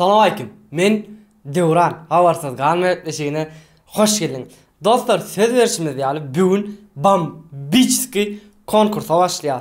Salam aleýkum. Men Döwran. Habarsyz galma gepleşigine hoş geldiň. Dostlar, söz berşimiz ýaly, bu gün bambiçski konkursa başlaýar.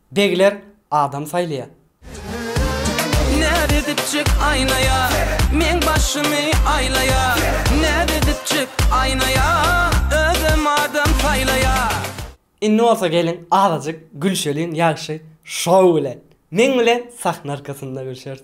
Begler adam saýlaýar. Näz edipjik aýnaýa, meň başymy aýlaýa, näz edipjik aýnaýa, özem adam saýlaýa. Indi bolsa geliň azajyk gülşeliň ýagşy show bilen. Meň bilen sahna arkasynda gülşeris.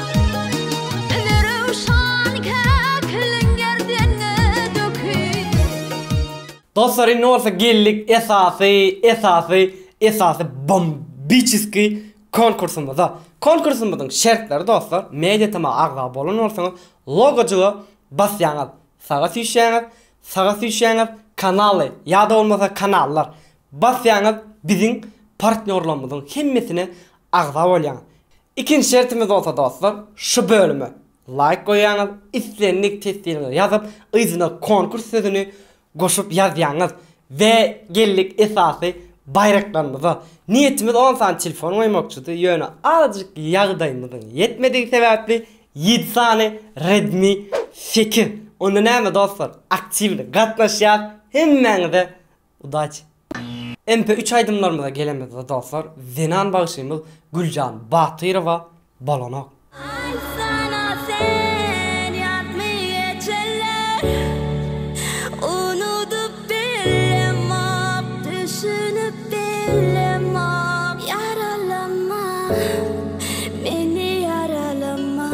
Dostlar indi bolsa geldik esasy esasy esasy bombiçiskiý konkursymyza. Konkursymyzyň şertleri dostlar mediatma agza bolan bolsaňyz logojyga basýaňyz saga süýşýäňiz saga süýşýäňiz kanaly ýa-da bolmasa kanallar basýaňyz biziň partnýorlarymyzyň hemmesine agza bolýaňyz. Ikinji şertimiz bolsa dostlar, şu bölüme laýk goýýaňyz, islendik teswiriňizi ýazyp, yzyna konkurs sözüni goşup ýazýaňyz. We geldik esasy baýraklarymyza. Niýetimiz on sany telefon goýmakçydy, ýöne azajyk ýagdaýymyzyň ýetmedigi sebäpli ýedi sany Redmi sekiz. Onda näme dostlar, aktiwly gatnaşýas, hemmäňize Udaçi. MP üç aýdymlarymyza gelemizde dostlar zenan bagşymyz Güljan Batyrowa bolanok. Aýtsana sen ýatmy geçenler Unudyp bilemok düşünip bilemok Ýaralama meni ýaralama.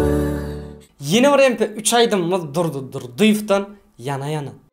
Ýene bir MP üç aýdymymyz Durdy Durdyýewden Ýana ýana.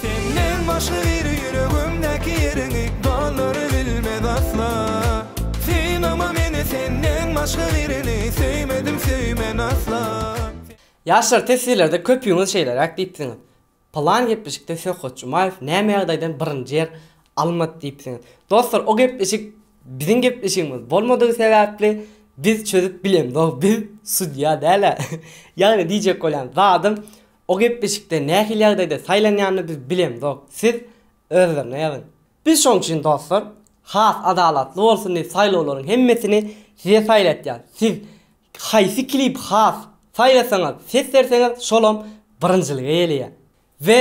Senden başga biri ýüregimdäki ýeriňi Dallary bilmez asla Synama meni senden başga birini Söýmedim söýmen asla Ýaşlar siz sizlerde köpüňiz şeýleräk diýipsiňiz Pylan gepleşikde Söhbet Jumaýew näme ýagdaýdan birinji ýer almady diýipsiňiz. Dostlar o gepleşik biziň gepleşigimiz bolmadygy sebäpli biz çözüp bilemzok biz sudýa dälä ýagny diýjek bolýan zadym O gepleşikde nähili ýagdaýda saýlanýanyny biz bilemzok, siz özlerine ýazyň. Biz şoň üçin dostlar, has adalatly bolsun diýip saýlawlaryň hemmesini size saýlatýas. Siz haýsy klibi has saýlasaňyz, ses berseňiz şolam birinjilige ýeleýär. We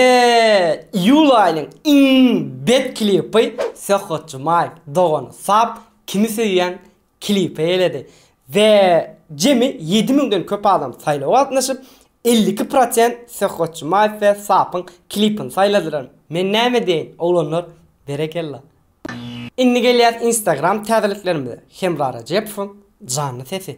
iýul aýynyň iň bet klipi Söhbet Jumaýew dogany Sap kimi söýýäň Klipe eledi we jemi ýedi müňden köp adam saýlawa gatnaşyp, elli iki prosent Söhbet Jumaýew we Sapyň klipini saýladylar. Men näme diýeýin, oglanlar, berekella! Indi gelýäs Instagram täzeliklerimize, Hemra Rejepowyň janly sesi.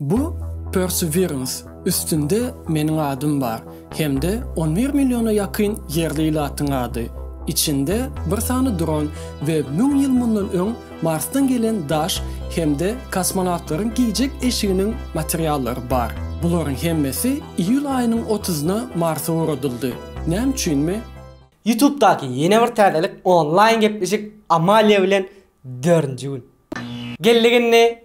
Bu Perseverance üstünde meniň adym bar hem-de on bir milliona ýakyn ýerli ilatyň ady. Içinde bir sany dron we müň ýyl mundan öň Marsdan gelen daş hem-de kosmonawtlaryň giýjek eşiginiň materiallary bar. Bularyň hemmesi iýul aýynyň otuzyna Marsa ugradyldy. Näme üçinmi? Ýutubdaky ýene bir täzelik onlaýn gepleşik Amalia bilen dördünji gün. Geldiginni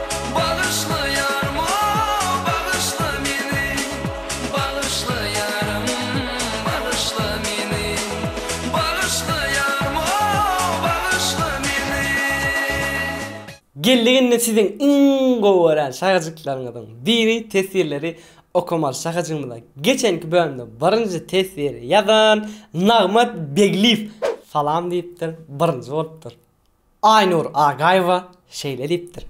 Bagyşla ýarym o, bagyşla meni, Bagyşla ýarym, bagyşla meni, Bagyşla ýarym o, bagyşla meni. Geldik indi siziň iň gowy gören şahajyklaryňyzyň biri teswirleri okamaly şahajygymyza geçenki bölümde birinji teswiri ýazan Nagmat Begliýew salam diýipdir birinji bolupdyr Aýnur Agaýewa şeýle diýipdir,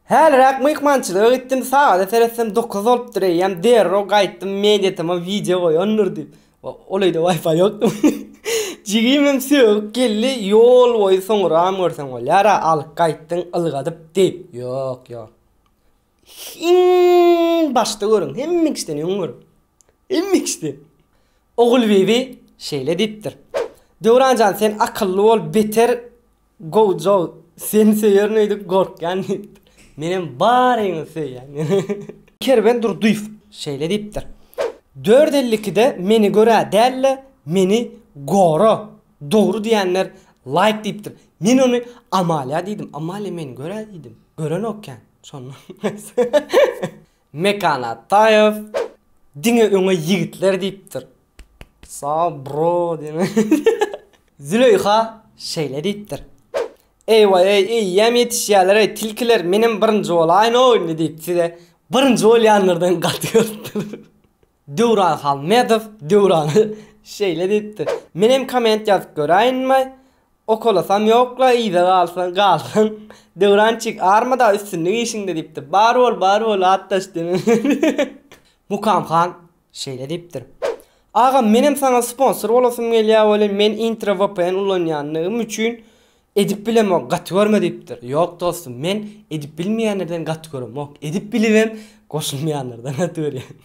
Häliräk myhmançylyga gitdim, sagada seretsem dokuz bolupdyr eýýäm derrew gaýtdym, mediatama wideo goýandyr diýip. Ol öýde wifi ýokmy? Jigimem sögüp geldi, ýol boýy soňuram görseň bolýar-a, alyp gaýtdyň ylgadyp diýip. Ýok, ýok. Iň başda görüň, hemme kişiden öň görüň. Hemme kişiden. Ogulbibi şeýle diýipdir. Döwran jan, sen akylly bol, beter Gojo seni söýerin öýdüp gorkýan diýipdir. Menem baryňyzy söýýän. Kerwen Durdyýew şeýle diýipdir. Dört elli ikide meni görä däl-de, meni gora. Dogry diýenler laýk diýipdir. Men ony Amalia diýdim. Amalia meni görä diýdim. Görenokýan. Mekan Ataýew diňe öňe ýigitler diýipdir. Saw bro diýen. Züleýha şeýle diýipdir. Eýwaý-eý eýýäm ýetişýäler-eý tilkiler menem birinji bolaýyn-ow indi diýip size birinji bolýanlardan gaty görüpdir. Döwran Halmedow Döwrana şeýle diýipdir, Men hem komment ýazyp göräýinmi? Okalasam ýok-la yza galsaň galdyň. Döwrançik armada üstünlik işiňde diýipdir. Bar bol bar bol atdaş diýen. Mukam han şeýle diýipdir, Agam menem saňa sponsor bolasym gelýä welin men intro vpn ulanýandygym üçin Edip bilemok gaty görme diýipdir. Ýok dostum men edip bilmeýänlerden gaty göremok. Edip bilibem goşulmaýanlardan gaty görýän.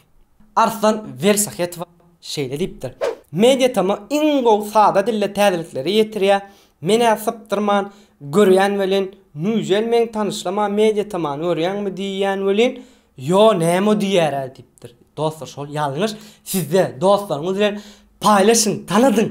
Arslan Welsahetova şeýle diýipdir. Media tama iň gowy sada dilde täzelikleri ýetirýär. Men-ä sypdyrman görýän welin, Nüzel meň tanyşlama Media tamany görýäňmi diýýän welin, Ýo näme diýýär-ä diýipdir. Dostlar şol ýalňyş. Sizde dostlaryňyz bilen paýlaşyň, tanadyň.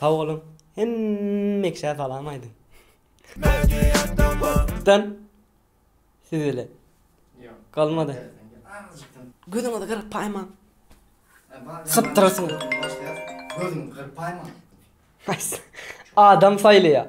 Sag boluň hemmkşä salam aýdyň. Media siz ile galmady. Gözüňizi gyrpaýmaň. Sypdyrarsyňyz. Gözüňizi gyrpaýmaň. Adam saýlaýar.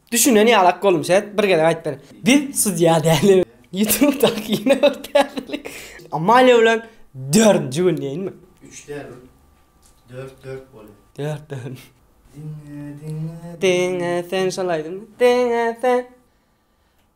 Düşünen ýaly ak boldum şeýt bir gezek aýt beren. Biz sudýa däli. Youtube daky ýene bir täzelik. Amalia bilen dördünji gün diýinmi. Üç däl ol. Dört dört bolýar. Dört dört. Diňe diňe. Diňe sen şol aýdym. Diňe sen.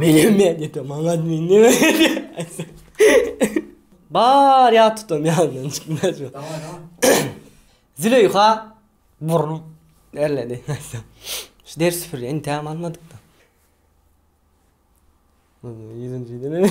Meniň meýletim maňa nime Bar ýat tutam ýanyndan çykmaz. Züleýha burun erledi. Şu ders süpürýä intäm almadyk-da. Ýüzünjiden.